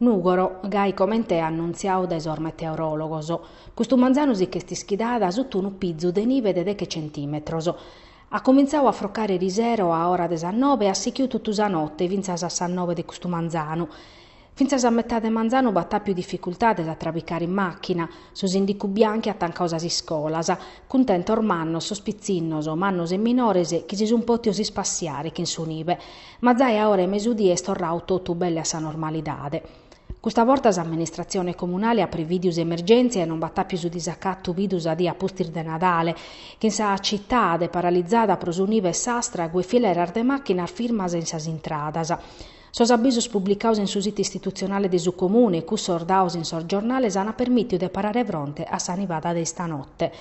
Nùgoro, gai comente annuntziadu dae sos meteoròlogos, custu manzanu si ch'est ischidada sutta unu pizu de nive de deghe centìmetros. At comintzadu a frocare erisero a ora de sas nobe e at sichidu totu sa note fintzas a sas nobe de custu manzanu. Fintzas a metade de manzanu b'at àpiu dificultades a trabicare in màchina, su sìndicu Bianchi at tancadu sas iscolas, cuntentos mannos sos pitzinnos, mannos e minores, chi si sun pòtidos ispassiare chin su nive. Ma zai a ora 'e mesudì est torradu totu belle a sa normalidade. Custa borta s'amministratzione comunale at privìdiu s'emergèntzia e non b'at àpiu su disacatu bidu sa die a pustis de Nadale, chin sa citade, paralizada pro su nive e s'astragu e fileras de màchinas firmas in sas intradas. Sos abisos publicados in su situ istitutzionale de su Comune e cussos dados in sos giornales ant permìtiu de parare fronte a sa nivada de istanote.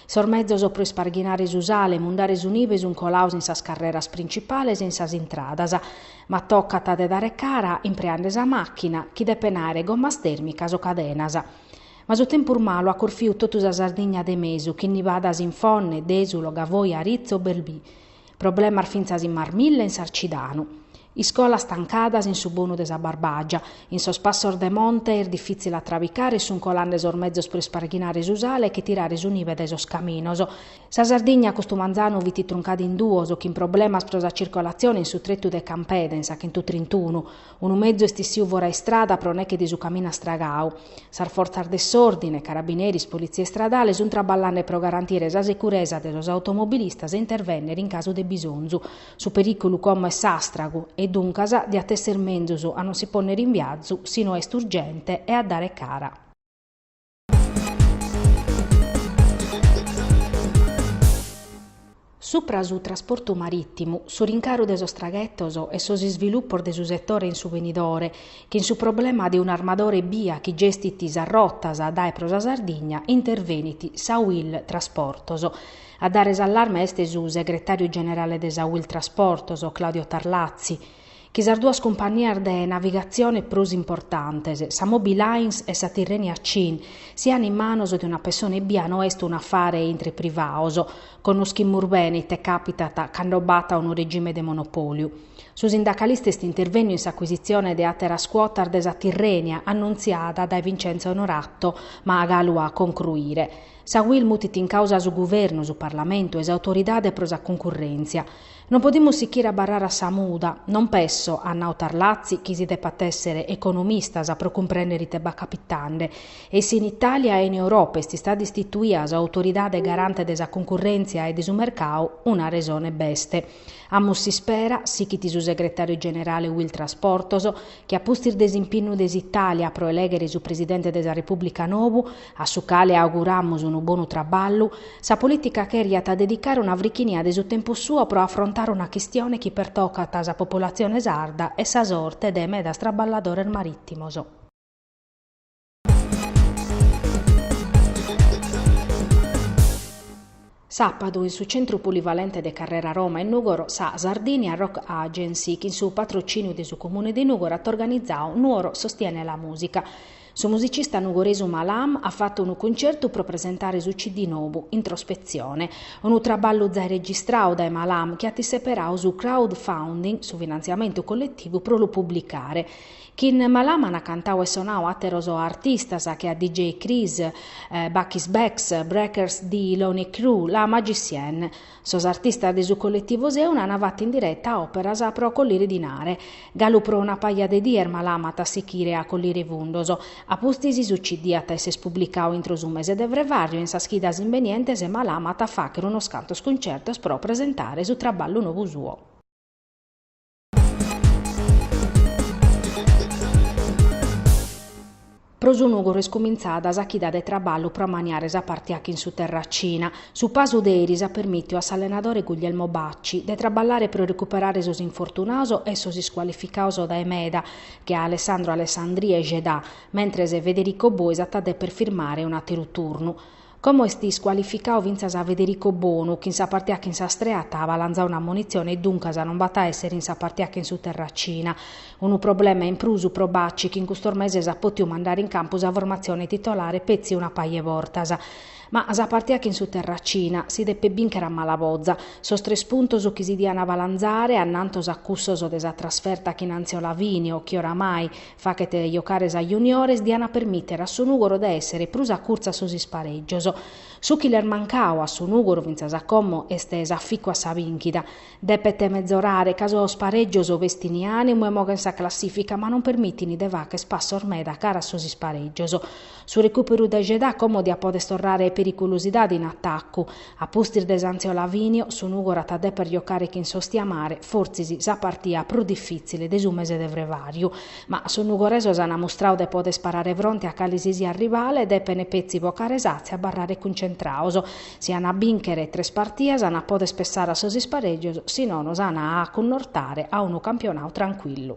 Sos mezos pro isparghinare su sale e mundare su nive sun colados in sas carreras principales e in sas intradas, ma tocat de dare cara impreende sa màchina, chi depen àere gommas tèrmicas o cadenas. Ma su tempus malu at corfiu totu sa Sardigna de mesu, chin nivadas in Fonne, Dèsulo, Gavoi, Aritzo, Belbì. Problemas fintzas in Marmilla e in Sarcidanu. Iscolas tancadas in su bonu de sa Barbàgia. In sos passos de monte est difìtzile a trabicare e sunt colande sos mezos pro isparghinare su sale e che tirare su nive dae sos caminos. Sa Sardigna custu manzanu fit truncada in duos, chin problemas pro sa circolatzione in su tretu de Campeda, in sa chentu trintunu. Unu mezu est issiu fora istrada pro neche de su caminu astragau. Sas fortzas de s'òrdine, carabineris, politzia istradale, sunt traballande pro garantire sa securesa de sos automobilistas e intervènnere in casu de bisonzu. Su perìculu como est s'astragu e, duncas, diat èssere menzus a non si pònnere in viazu si no est urgente e a dare cara. Supra su trasportu marìtimu, su rincaru de sos traghetos e sos isvilupos de su setore in su benidore, chin su problema de un'armadore ebbia chi gestit sas rotas dae e pro sa Sardigna, intervenit sa UIL Trasportos. A dare s'allarme est su segretàriu generale de sa UIL Trasportos, Claudio Tarlazzi. Chi sas duas cumpannias de navigatzione prus importantes, sa Moby Lines e sa Tirrenia Cin, sian in manos de una pessone ebbia no est un'afare intre privados, connoschimus bene ite càpitat cando b'at unu regime de monopòliu. Su sindacalista est intervènniu in s'acuisitzione de àteras cuotas de sa Tirrenia annuntziada dae Vincenzo Onorato, ma galu a concruire. Sa UIL mutit in càusa su guvernu, su parlamentu e s'autoridade pro sa cuncurrèntzia. Non podimus sichire a abarrare a sa muda, non pesso, at nau Tarlazzi, chi si depat èssere economistas pro cumprèndere ite b'at capitande. E si in Itàlia e in Europa est istada istituida s'Autoridade garante de sa cuncurrèntzia e de su mercadu, una resone b'est. Amus s'ispera, sichit su segretàriu generale UIL Trasportos, chi a pustis de s'impinnu de s'Itàlia pro elèghere su presidente de sa Repùblica nou, a su cale auguramus unu bonu traballu, sa polìtica cheriat dedicare una frichinia de su tempus suo pro afrontare una chistione chi pertocat sa populatzione sarda e sa sorte de medas traballadores marìtimos. Sàpadu, in su Centru Polivalente de Carrera Roma in Nùgoro, sa Sardinia Rock Agency, chin su patrocìniu de su Comune de Nùgoro, at organizadu Nuoro sostiene la musica. Su musicista nugoresu Malam at fatu unu cuncertu pro presentare su CD nobu, Introspezione. Unu traballu zai registradu dae Malam, chi at isseperadu su crowdfunding, su finantziamentu colletivu pro lu publicare. Chin Malam an cantau e sonau àteros artistas che a DJ Chris, Bakis Beks, Breakers de Loney Crew, La Magicienne. Sos artistas de su colletivu Seuna an fatu in direta òperas pro collire dinare. Galu pro una paja de dies Malam at a sichire a collire fundos. A pustis su CD at a esser publicau intro su mese de frevàriu e in sas chidas imbenientes Malam at a fàghere unos cantos cuncertos pro presentare su traballu nou suo. Pro su Nùgoro est cumintzada sa chida de traballu pro amaniare sa partia chin su Terracina. Su pasu de eris at permìtiu a s'allenadore Guglielmo Bacci de traballare pro recuperare sos infortunados e sos iscualificados dae meda, che a Alessandro Alessandrì e Jedà, mentres Federico Bois at a dèpere firmare un'àteru turnu. Como est iscualificadu fintzas Federico Bonu, chi in sa partia chin s'Astrea at balanzadu un'ammonitzione e duncas non b'at a èssere in sa partia chin su Terracina. Unu problema in prus pro Bacci chi in custos meses at pòtidu mandare in campu sa formatzione titolare petzi una paja 'e bortas. Ma sa partia chin su Terracina si depet bìnchere a mala boza. Sos tres puntos chi si diant balanzare annantos a cussos de sa trasferta chin Anziolavinio chi oramai faghet jocare sa juniores dian a permìtere a su Nùgoro de èssere prus acurtzu a sos isparègios. Su chi l'est mancadu a su Nùgoro fintzas a como est s'aficu a sa bìnchida. Depet metzorare ca sos parègios bestint ànimu e moghen sa classìfica ma non permitint de fagher passos meda cara a sos isparègios. Su recùperu de Jedà como diat poder torrare periculosidade in atacu. A pustis de s'Anziolavinio, su Nùgoro at a deper jocare chin s'Ostiamare, fortzis sa partia prus difìtzile de su mese de frevàriu. Ma sos nugoresos ant mustradu de poder parare fronte a cale si siat rivale, depene petzi bocare s'atza e abarrare cuntzentrados. Si ant a bìnchere tres partias ant a poder pessare a sos isparègios, si nono s'ant a cunnortare a unu campionadu trancuillu.